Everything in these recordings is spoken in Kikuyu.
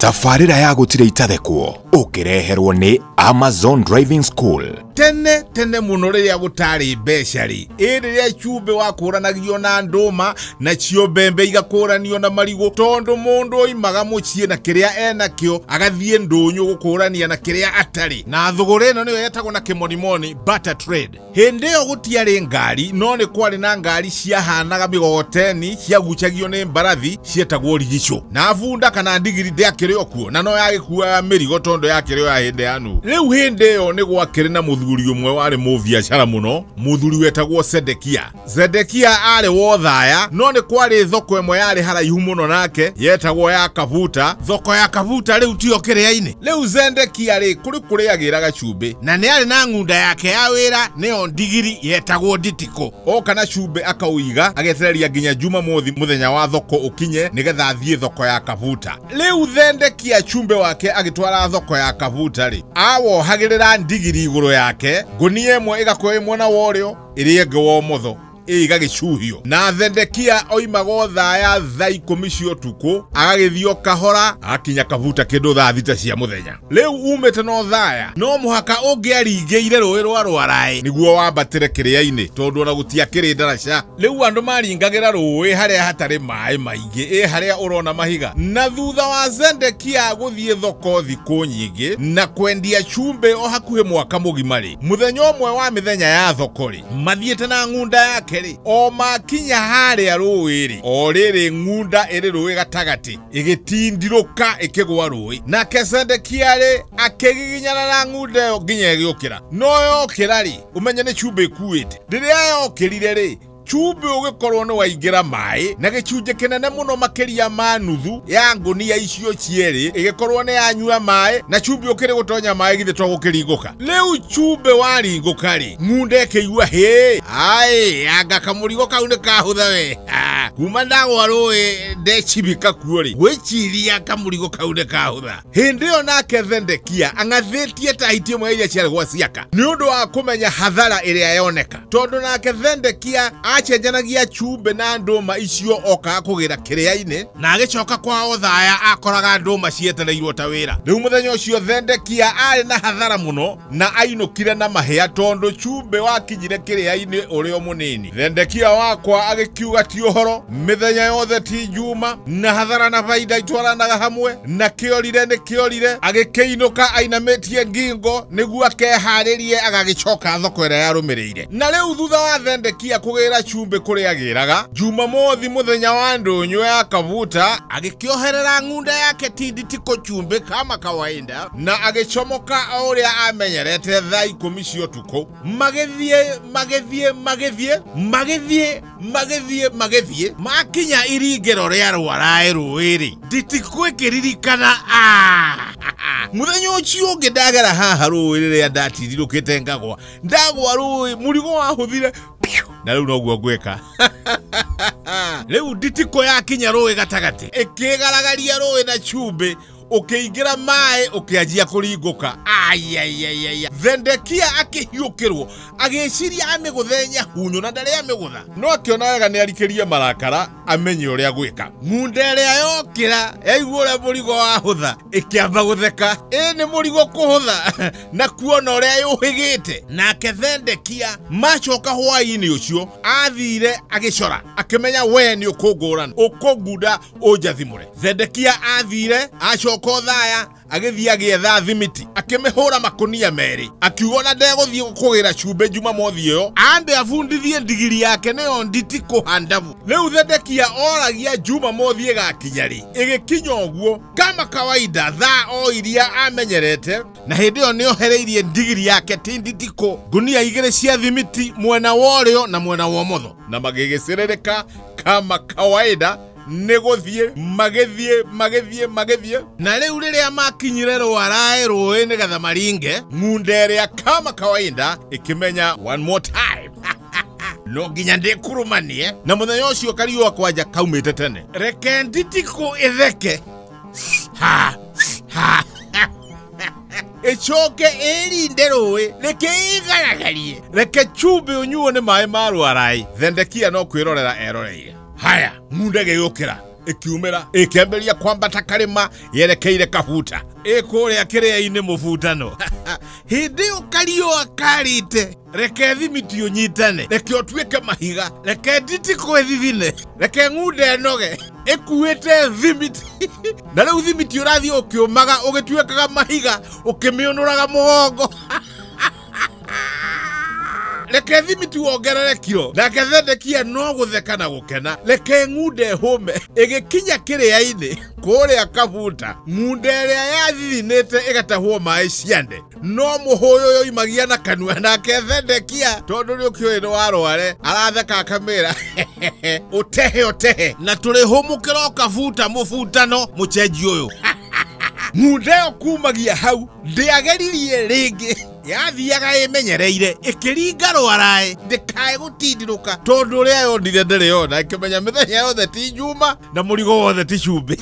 tabarĩra ya gũtirĩ itathekwo ũkĩreherwo nĩ amazon driving school tene tene mũno rĩrĩa gũtarĩ mbeca rĩ ĩ rĩrĩa cumbĩ wakũranagio na ndũma nacio mbembe igakũranio na marigũ tondũ mũndũ oimaga mũciĩ na kĩrĩa enakĩo agathiĩ ndũnyũ gũkũrania na kĩrĩa atarĩ na thũgũrĩ ĩno nĩyo yetagwo na kĩmonimoni butter trade Hĩndĩ ĩyo gũtiarĩ ngari, no nĩ kwarĩ na ngari ciahaanaga mĩgogoteni ciagucagio nĩ mbarathi cietagwo rigicũ. Na bunda kana ndigiri ndĩakĩrĩ o kuo, na no yagĩkuuaga mĩrigo tondũ yakĩrĩ o ya hĩndĩ ya Nuhu. Rĩu hĩndĩ ĩyo nĩ gwakĩrĩ na mũthuri ũmwe warĩ mũbiacara mũno, mũthuri wetagwo Sedekia. Zedekia aarĩ wothaya no nĩ kwarĩ thoko ĩmwe yarĩ haraihu mũno nake yetagwo ya Kabuta. Thoko ya Kabuta rĩu tiyo kĩrĩa-inĩ. Rĩu Zedekia rĩ kũrĩ kũrĩagĩra gacumbĩ, na nĩ arĩ na ng'unda yake ya wĩra nĩyo ndigiri yetagwo Nditikũ. Oka na cumbĩ akaũiga agetereria nginya Jumamothi mũthenya wa thoko ũkinye nĩgetha athiĩ thoko ya Kabuta. Rĩu Zedekia cumbĩ wake agĩtwara thoko ya Kabuta rĩ, awohagĩrĩra ndigiri igũrũ yake, ngũnia ĩmwe ĩgakuo ĩmwe na worĩo, ĩrĩa ĩngĩ wa ũmotho ĩgagĩcuhio na Zedekia oimaga o thaa ya thaa ikũmi cia ũtukũ agagĩthiĩ o kahora agakinya kabuta kĩndũ thaa thita cia mũthenya rĩu umĩte no thaya no mũhaka ũngĩaringĩire rũĩ rwa rwaraĩ nĩguo wambatĩre kĩrĩa-inĩ tondũ ona gũtiakĩrĩ ndaraca rĩu andũ maringagĩra rũĩ harĩa hatarĩ maĩ maingĩ ĩ harĩa ũrona mahiga na thutha wa Zedekia gũthiĩ thoko thikũ nyingĩ na kwendia cumbĩ o hakuhĩ mwaka mũgima rĩ muthenya umwe wa mithenya ya thoko ri mathiite na ng'unda yake ri o makinya haria rũĩ ri o rĩrĩ ng'unda ĩrĩ rũĩ gatagatĩ ĩgĩtindirũka ĩkĩgwa rũĩ nake sendekia rĩ akĩgiginyana na ng'unda ĩyo nginya ĩgĩũkĩra no yokĩra ri ũmenye nĩ cumbĩ ĩkuĩte rĩrĩa yokĩrire rĩ Cumbĩ ũgĩkorwo nĩ waingĩra maĩ na gĩcunjĩ kĩnene mũno makĩria ma nuthu ya ngũnia icio cierĩ ĩgĩkorwo nĩ yanyua maĩ na cumbĩ ũkĩrĩ gũtonya maĩ githĩ to gũkĩringũka. Rĩu cumbĩ waringũka-rĩ, ng'unda ĩkĩigua hĩ! Aĩ, anga kamũrigo kau nĩ kahũtha we! Kuma ndagwa rũĩ ndecibika kuo-rĩ, ngwĩciria kamũrigo kau nĩ kahũtha. hĩndĩ ĩyo nake thendekia ang'athĩtie ta hiti ĩmwe ya iria ciarĩ gwa ciaka nĩ ũndũ wa kũmenya hathara ĩrĩa yoneka tondũ nake thendekia acenjanagia cumbĩ na ndũma icio okaga kũgĩra kĩrĩa-inĩ na agĩcoka kwao thaya akoraga ndũma cietereirwo ta wĩra rĩu mũthenya ũcio thendekia arĩ na hathara mũno na ainũkire na mahĩa tondũ cumbĩ wakinyire kĩrĩa-inĩ ũrĩ o mũnini thendekia wakwa agĩkiuga ti ũhoro mĩthenya yothe ti njuma na hathara na baida itwaranaga hamwe na kĩorire nĩ kĩorire agĩkĩinũka ainamĩtie ngingo nĩguo akeharĩrie agagĩcoka thoko ĩrĩa yarũmĩrĩire na rĩu thutha wa thendekia kũgĩra cumbĩ kũrĩa agĩraga jumamothi mũthenya wa ndũnyũ ya kabuta agĩkĩoherera ng'unda yake tinditi kũcumbĩ kama kawaida na agĩcomoka o ũrĩa amenyerete thaa ikũmi cia ũtukũ magĩthiĩ magĩthiĩ magĩthiĩ magĩthiĩ magĩthiĩ magĩthiĩ makinya iringĩro rĩa rwaraĩ rũĩ-rĩ nditigwĩkĩririkana mũthenya ũcio ũngĩ ndagera haha rũĩ rĩrĩa ndatirirũkĩte ngagwa ndagwa rũĩ mũrigo wahũthire na rĩu noguo ngwĩka rĩu nditiko yakinya rũĩ gatagatĩ ĩkĩgaragaria rũĩ na cumbĩ ũkĩingĩra maĩ ũkĩanjia kũringũka ayayayaya thendekia akĩhiũkĩrwo agĩciria amĩgũthe nyahunyũ na ndarĩ amĩgũtha no akĩona wega nĩ arikĩrie marakara amenye ũrĩa gwĩka ng'unda ĩrĩa yokĩra yaigua ũrĩa mũrigo wahũtha ĩkĩamba gũtheka ĩ nĩ mũrigo kũhũtha na kuona ũrĩa yũhĩgĩte nake thendekia macoka hwaĩ-inĩ ũcio athire agĩcora akĩmenya we nĩ ũkũngũrana ũkũngunda unjathimure zedekia athire acoka å thaya agĩthiĩ agĩetha thimiti akĩmĩhũra makonia merĩ akiuga ona ndegũthiĩ gũkũgĩra cumbĩ njuma mothi ĩyo ambe abundithie ndigiri yake nĩyo nditi kũhandabu rĩu thedekia oragia njuma mothi ĩgakinya rĩ ĩgĩkinya ũguo kama kawaida thaa o iria amenyerete na hĩndĩ ĩyo nĩohereirie ndigiri yake tinditiko ngunia igĩrĩ cia thimiti mwena wa ũrĩo na mwena wa ũmotho na magĩgĩcĩrĩrĩka kama kawaida nĩ gũthiĩ magĩthiĩ magĩthiĩ magĩthiĩ na rĩu rĩrĩa makinyire rwaraĩ rũĩ nĩgetha maringe ng'unda ĩrĩa kama kawaida ĩkĩmenya one more time no nginya ndĩkurumanie na mũthenya ũcio kariũa kwanja kaumĩte tene reke nditiko ĩtheke ha ha ĩcoke ĩrinde rũĩ reke ĩgaragarie reke cumbĩ ũnyuo nĩ maĩ ma rwaraĩ thendekia no kwĩrorera eroreire haya ng'unda ĩgĩgĩũkĩra ĩkiumĩra ĩkĩambĩrĩria kwambata karĩma yerekeire kabuta ĩkũrĩa kĩrĩa-inĩ mũbutano hĩndĩ ĩyo kariũa karĩte reke thimiti ũnyitane reke ũtuĩke mahiga reke nditi kwĩ thithine reke ng'unda ĩnoge ĩkuĩte thimiti na rĩu thimiti ũrathiĩ ũkĩũmaga ũgĩtuĩkaga mahiga ũkĩmĩũnũraga mũgongo reke thimiti wongerere kiro nake thendekia no gũtheka na gũkena reke ng'unda ĩhũme ĩgĩkinya kĩrĩa-inĩ kũrĩa kabuta ng'unda ĩrĩa yathithinĩte ĩgatahwo maĩ ciande no mũhũyũ ũyũ oimagia na kanua nake Zedekia tondũ nĩ ũkĩũĩ nĩ warware aratheka akamĩra ũtehe ũtehe na tũrĩ hũmũkĩra ũkabuta mũbutano mũcenji ũyũ mundeo kumagia hau ndĩageririe rĩngĩ yathiaga ĩmenyereire ĩkĩringa rwaraĩ ndĩkae gũtindirũka tondũ ũrĩa yonire ndĩrĩ yona ĩkĩmenya mĩthenya yothe ti njuma na mũrigo wothe ti cumbĩ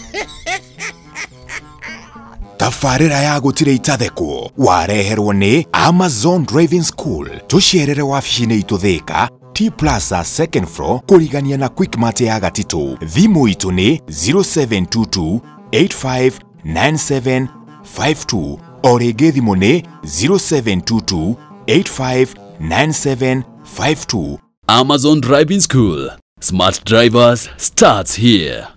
tabarĩra ya gũtirĩ itathekwo wareherwo nĩ amazon driving school tũcerere wabici-inĩ itũ thĩka t plaza second floor kũrigania na quickmart ya gatitũ thimũ itũ nĩ 0722 859752 o rĩngĩ thimũ nĩ 0722 859752 Amazon Driving School. Smart drivers starts here.